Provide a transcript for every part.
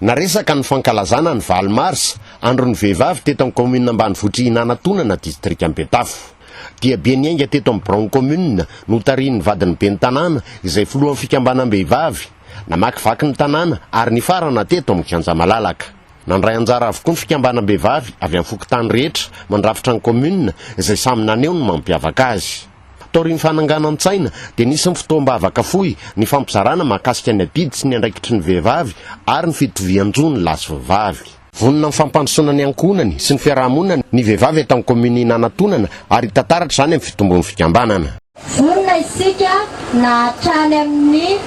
Naresaka ny fankalazana ny valo marsa, andron'ny vehivavy teto amin'ny kaominina ambanivohitr'i Hinanantonana, distrikan'i Betafo. Diabe niainga teto amin'ny biraon'ny kaominina, notarihin'ny vadin'ny ben'ny tanàna, izay filohan'ny fikambanam-behivavy. Namakivaky ny tanàna ary nifarana teto amin'ny kianja malalaka. Nandray anjara avokoa ny fikambanam-behivavy avy amin'ny fokontany rehetra mandrafitra ny kaominina, izay samy naneho ny mampiavaka azy. Taorian'ny fananganan-tsaina, dia nisy ny fotoam-bavaka fohy nifampizarana mahakasika ny adidy sy ny andraikitry ny vehivavy ary ny fitovian-jo ny lahy sy vehivavy. Vonona amin'ny fampandrosoana ny ankohonany sy ny fiaraha-monina ny vehivavy eto amin'ny kaominina Anantonana ary hita taratra izany amin'ny fitombon'ny fikambanana. Vonona isika na hatrany amin'ny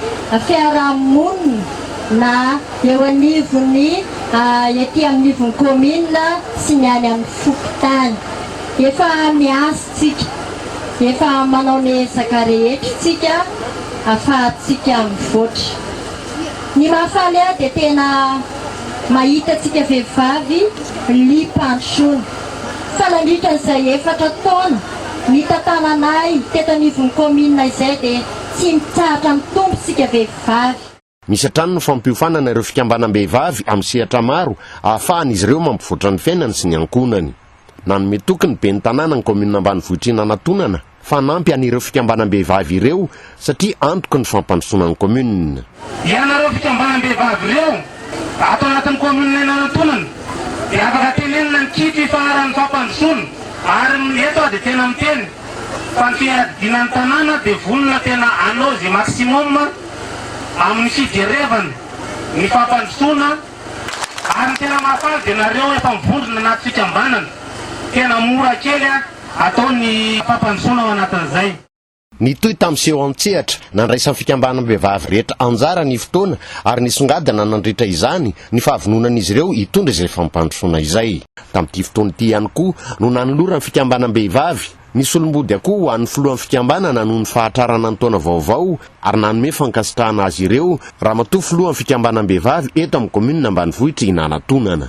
fiaraha-monina na eo anivon'ny ety amin'ny ivon'ny kaominina sy ny any amin'ny fokontany. Efa miasa. Tsika. Efa manao ny ezaka rehetra tsika afahatsika mivoatra. Ny mahafaly ahy dia tena mahita tsika vehivavy lipantsony. Fa nandritra izay efatra taona nitantananay teto anivon'ny kaominina izay dia tsy mitsahatra mitombo tsika vehivavy. Misy hatrany ny fampiofanana ireo fikambanam-behivavy amin'ny sehatra maro ahafahan'izy ireo mampivoatra ny fiainany sy ny ankohonany. Nanome toky ny ben'ny tanàna ny kaominina ambanivohitr'Inanatonana fa hanampy an'ireo fikambanam-behivavy ireo satria antoky ny fampandrosoana ny kaominina. Ianareo fikambanam-behivavy ireo ato anatin'ny kaominina Inanatonana dia afaka tenenina ny kitro ifaharan'ny fampandrosoana ary eto aho dia tena miteny fa ny fiadidiana ny tanàna dia vonona tena hanao izay maximum amin'ny fijerevany ny fampandrosoana ary ny tena mahafaly dia nareo efa mivondrona anaty fikambanana, tena mora kely atao ny fampandrosoana ao anatin'izay. Nitohy tamin'ny seho an-tsehatra nandraisan'ny fikambanam-behivavy rehetra anjara ny fotoana ary nisongadina nandritra izany ny fahavononan'izy ireo hitondra izay fampandrosoana izay. Tamin'ity fotoana ity ihany koa no nanoloran'ny fikambanam-behivavy, Ny solombody akoho ho an'ny filohan'ny fikambanana noho ny fahatrarana ny taona vaovao ary nanome fankasitrahana azy ireo Ramatoa filohan'ny fikambanam-behivavy eto amin'ny kaominina ambanivohitr'i Nanatonana.